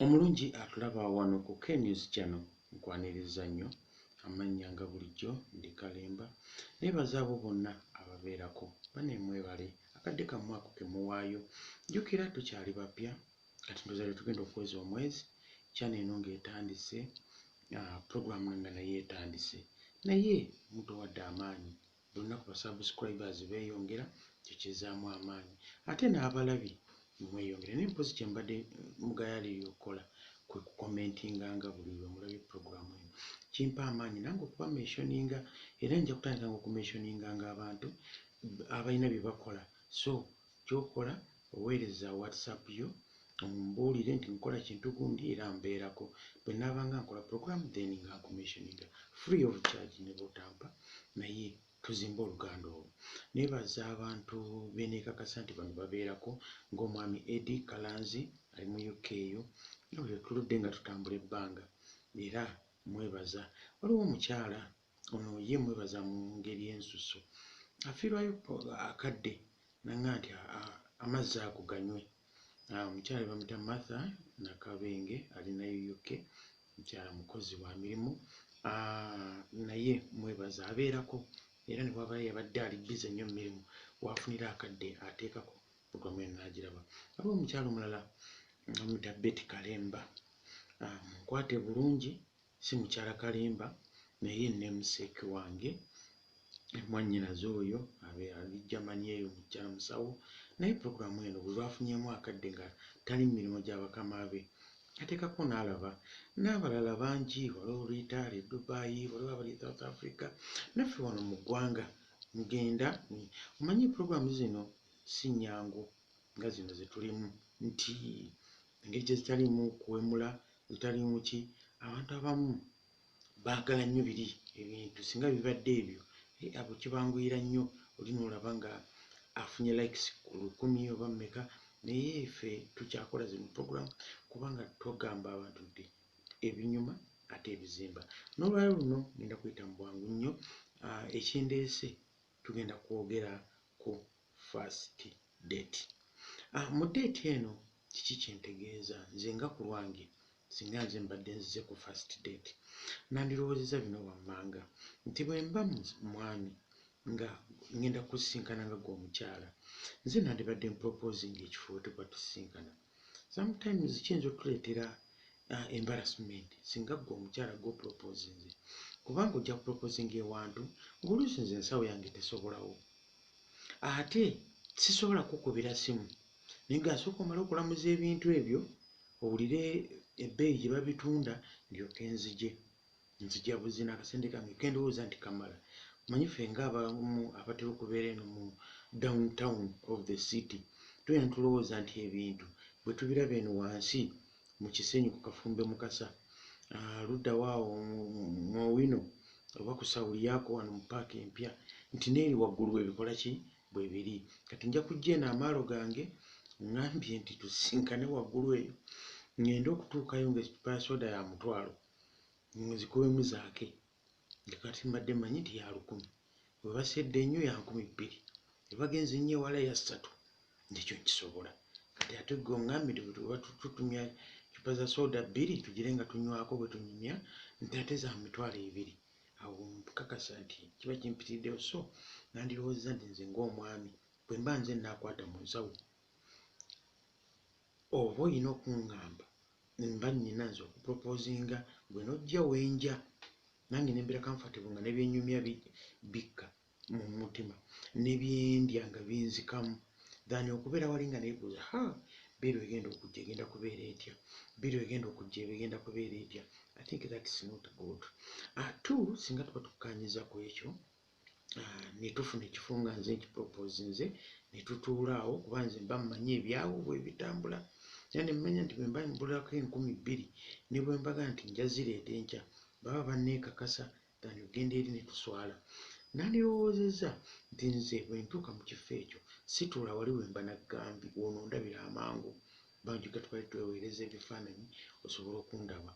Omulungi atulaba wano ku K-News Channel nkwaniriza nnyo amannya nga bulijjo ndi Kalemba. Neebaza abo bonna ababeerako. Bane mwebale akadde kammwe ako ke muwaayo. Jjukira tukyali bapya kati ndowooza lwe tugenda okuweza omwezi channel eno ng'etandise, program nga nayo etandise naye mutuwadde amaanyi. Buli lunaku ba subscribers beyongera ekyo kizzaamu amaanyi ate n'abalabi ne mweyongera naye mpozi kye mbadde mugayaalirira okukola kwe ku commentinga nga buli lwe mulabye program eno kimpa amaanyi nange okuba mentioninga era nja kutandika nga okumessioninganga abantu abalina bye bakola so Ky'okola, Oweereza WhatsApp yo ombuulire nti nkola kintu gundi era mbeerako. Bwe nnaabanga nkola pulogulaamu then nga nkumentioninga free of charge ne bw'otampa naye tuzimbe oluganda olwo. Neebaza abantu be nneekakasa nti bano babeerako ng'omwami Eddy Kalanzi ali mu UK eyo nga bwe tuludde nga tutambula ebbanga era mmwebaza. Waliwo omukyala ono ye mwebaza mu ngeri ensusu afiirwayo akadde nanga nti amazzi ago ganywe omukyala bamuta martha nakabenge ali nayo uk mukyala mukozi wa mirimu naye mwebaza abeerako era ne bwaba yabadde ali bize nnyo mumirimu wafunira akadde ateekako programu eno nagiraba waliwo omukyala omulala bamuta beti kalemba munkwate bulungi si mukyala kalimba naye namesake wange mwanyinaze oyo abe ali Germany eyo mukyala musawo naye program eno bwebafunyemu akadde nga tali mu mirimu gya bakama be atekako nalaba n'abalala bangi waliwo Rita ali Dubai waliwo abali South Africa naffe wano mu ggwanga mugenda omanyi program zino si nyangu nga zino zetulimu nti engeri gyezitalimu kuwemula Lutalimu ki? Abantu abamu baagala nnyo biri ebintu singa bibadde ebyo eh abo kibanguyira nnyo oli n'olaba nga afunye likes lukumi oba mmeka naye ffe tukyakola zino program kubanga tugamba abantu nti ebinyuma ate ebizimba. N'olwalero luno ngenda kuyita mu bwangu nnyo ekindeese tugenda kwogera ku first date ah mu date eno kiki kyentegeeza nze nga ku lwange singa nze mbadde nzize ku first date nandirowoozeza bino wammanga nti bwe mba mwami nga ngenda kusisinkana nga gwe omukyala nze nandibadde mproposinga ekifo wetuba tusisinkana sometimes kiyinza otuleetera uh, embarrassment singa gwe omukyala gwoproposinze kubanga ojja kuproposinga ewantu ngaoluusi nze ensawo yange tesobolawo ate sisobola kukubira simu naye nga asooka omale okulamuza ebintu ebyo owulire ebbeeyi gye babitunda ndyoke nzije nzija buzina akasente kange kendowooza nti kamala manyi fe nga abamu abatera okubeera eno mu down town of the city tubeera netulowooza nti ebintu bwe tubiraba eno wansi mu kisenyi ku kafumbe mukasa ah, luddawaawo mwowino oba ku sawuli yaako wano mu paaka empya nti neeri waggulu bwebikola ki bwe biri kati nja kujja eno amaalo gange ngambye nti tusinkane waggulu eyo ngende okutuukayo ngaekipaasooda ya mutwalo muzikubemu zaake nti kati mbadde manyi nti ya lukumi webasedde ennyo ya nkumi bbiri webagenze ennyo ewala ya ssatu ndikyo nkisobola kati ate gwe ongambye nti bwetubatutumya cupa za sooda bbiri tugire nga tunywako bwe tunyumya nti ate za mitwalo ebiri awo nkakasa nti kiba kimpitiriddewo so nandirowoozeza nti nze ng'omwami bwe mba nze naakwata mu nsawo Oba oyina okungamba mba nyina nze oku proposinga gwe nojja wenja nange nembera comfortable nga nebyenyumya bikka mumutima nebyendya nga binzikamu than okubera wali nga nebuza haa biru egenda okujja egenda kubera etya biru egenda okujja eba egenda kubera etya I think that's not good atu singa tuba tukanyiza kwekyo ah, netufuna ekifo nga nze nkipropose nze netutuulaawo kuba nze mba mmanyi ebyawo bwebitambula era nemmanya nti bwemba mbulako enkumi bbiri ne bwembaga nti njazireeta enkya baba banneekakasa than ogenda eri netuswala nandirowoozezza nti nze bwentuuka mu kifo ekyo situula wali wemba naggambi wono ndabira amangu Bangi ka twali tweweereza ebifaananyi osobole okundaba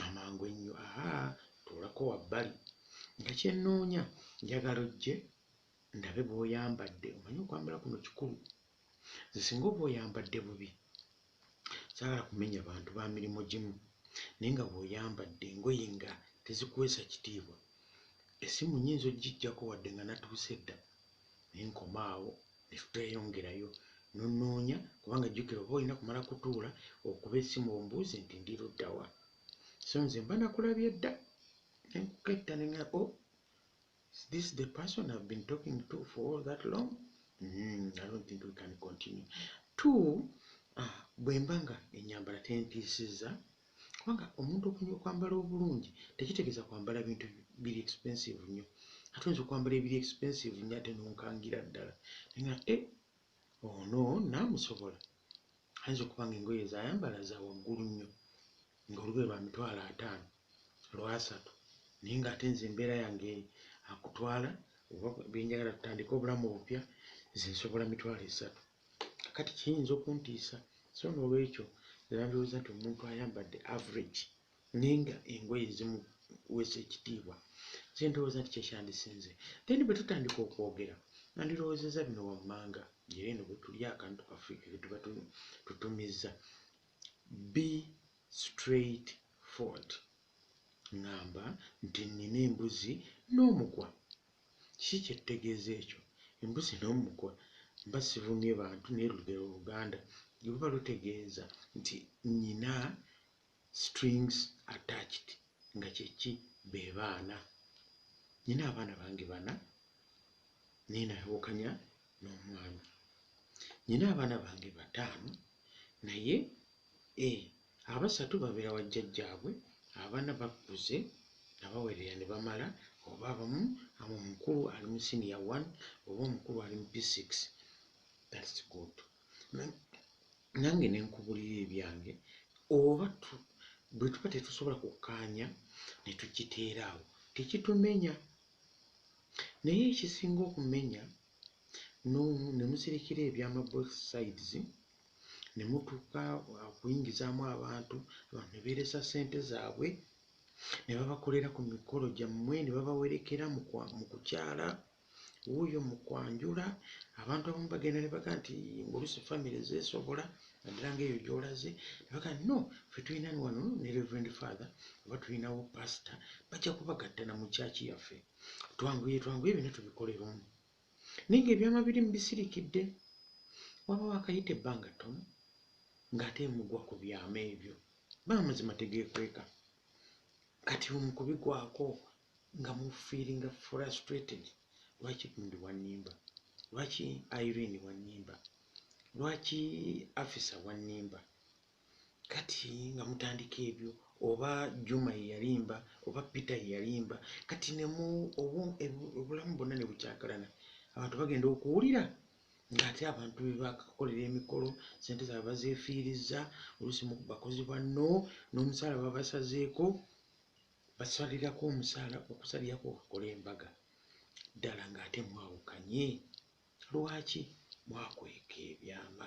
amangu ennyo. Ahaa, tuulako wabbali. Nga kye nnoonya, njagala ojje ndabe bw'oyambadde. Omanyi okwambala kuno kikulu. Nze singa oba oyambadde bubi. Saagala kumenya bantu ba mirimu gimu. Naye nga bw'oyambadde engoye nga tezikuweesa kitiibwa. Essimu nnyinza okugiggyako wadde nga natuuse dda. ne nkoma awo ne tuteyongerayo n'onnoonya kubanga jjukira oba olina kumala kutuula okuba essimu ombuuze nti ndi ludda wa so nze mba nakulabye dda ne nkuketta ne nga o oh, this the person I've been talking to for all that long mm, I don't think we can continue two uh, bwe mba nga ennyambala tentiisizza Kubanga omuntu okumanya okwambala obulungi tekitegeeza kwambala bintu biri expensive nnyo. Ate oyinza okwambala ebiri expensive nnyo ate n'onkangira ddala naye nga eh, ono naamusobola ayinza okuba nga engoye zayambala za waggulu nnyo ng'olugoye lwa mitwalo ataano lwasatu naye ng'ate nze embeera yange akutwala oba byenjagala tutandike obulamu obupya nze nsobola mitwalo esatu kati kiyinza okuntiisa so nolwekyo nandowooza nti omuntu ayambadde average naye nga engoye ezimuwesa ekitiibwa kyendowooza nti kyekyandisinze then bwe tutandika okwogera nandirowoozeza bino wammanga era eno bwe tuli akantu kaffe ketuba tutumizza be straight ford ngamba nti nnina embuzi n'omugwa Kiki kyettegeeza ekyo? Embuzi n'omukwa mba sivumye bantu naye lugero oluganda luba lutegeeza nti nnyina strings attached nga kyeki be baana. Nnyina abaana bange bana naye nayawukanya n'omwami. Nnyina abaana bange bataano naye e Abasatu babeera wa jjajjaabwe, abana bakuze nabawerera ne bamala oba abamu ama omukulu ali mu senior one oba omukulu ali mu P six that's good nange nenkubulira ebyange oba bwetuba tetusobola kukkaanya ne tukiteera awo tekitumenya naye ekisinga okumenya ne musirikira ebyama both sides ne mutuuka okuyingizaamu abantu abantu ne beeresa ssente zaabwe ne babakolera ku mikolo gyammwe ne babawerekera mu kwa- mu kukyala wuuyo mu kwanjula abantu abamu bagenda ne baga nti ng'oluusi famire zeesobola naddala ng'eyo gy'olaze ne baga nti no ffe tulina wano ne reverend father oba tulinawo pasita bajja kubagatta na mu kyaki yaffe twanguye twanguye byonna tubikolere omu Naye ng'ebyama biri mu bisirikidde. Waba waakayita ebbanga ttono ng'ate mugwa ku byama ebyo. Bo amazima tegeekweka. Kati lumu ku bigwako nga mufiiringa frustrated. Lwaki Gundi wannimba? Lwaki Irene wannimba? Lwaki Afisa wannimba? Kati nga mutandika ebyo oba Juma yeyalimba oba Peter yeyalimba kati nemu obulamu bonna nebukyakalana abantu bagenda okuwulira nga ate abantu bebakakolera emikolo sente zabwe bazefiiriza oluusi bakozi banno n'omusaala babasazeeko basalirako omusaala okusalirako okakole embaga ddala nga ate mwawukanye lwaki mwakweka ebyama.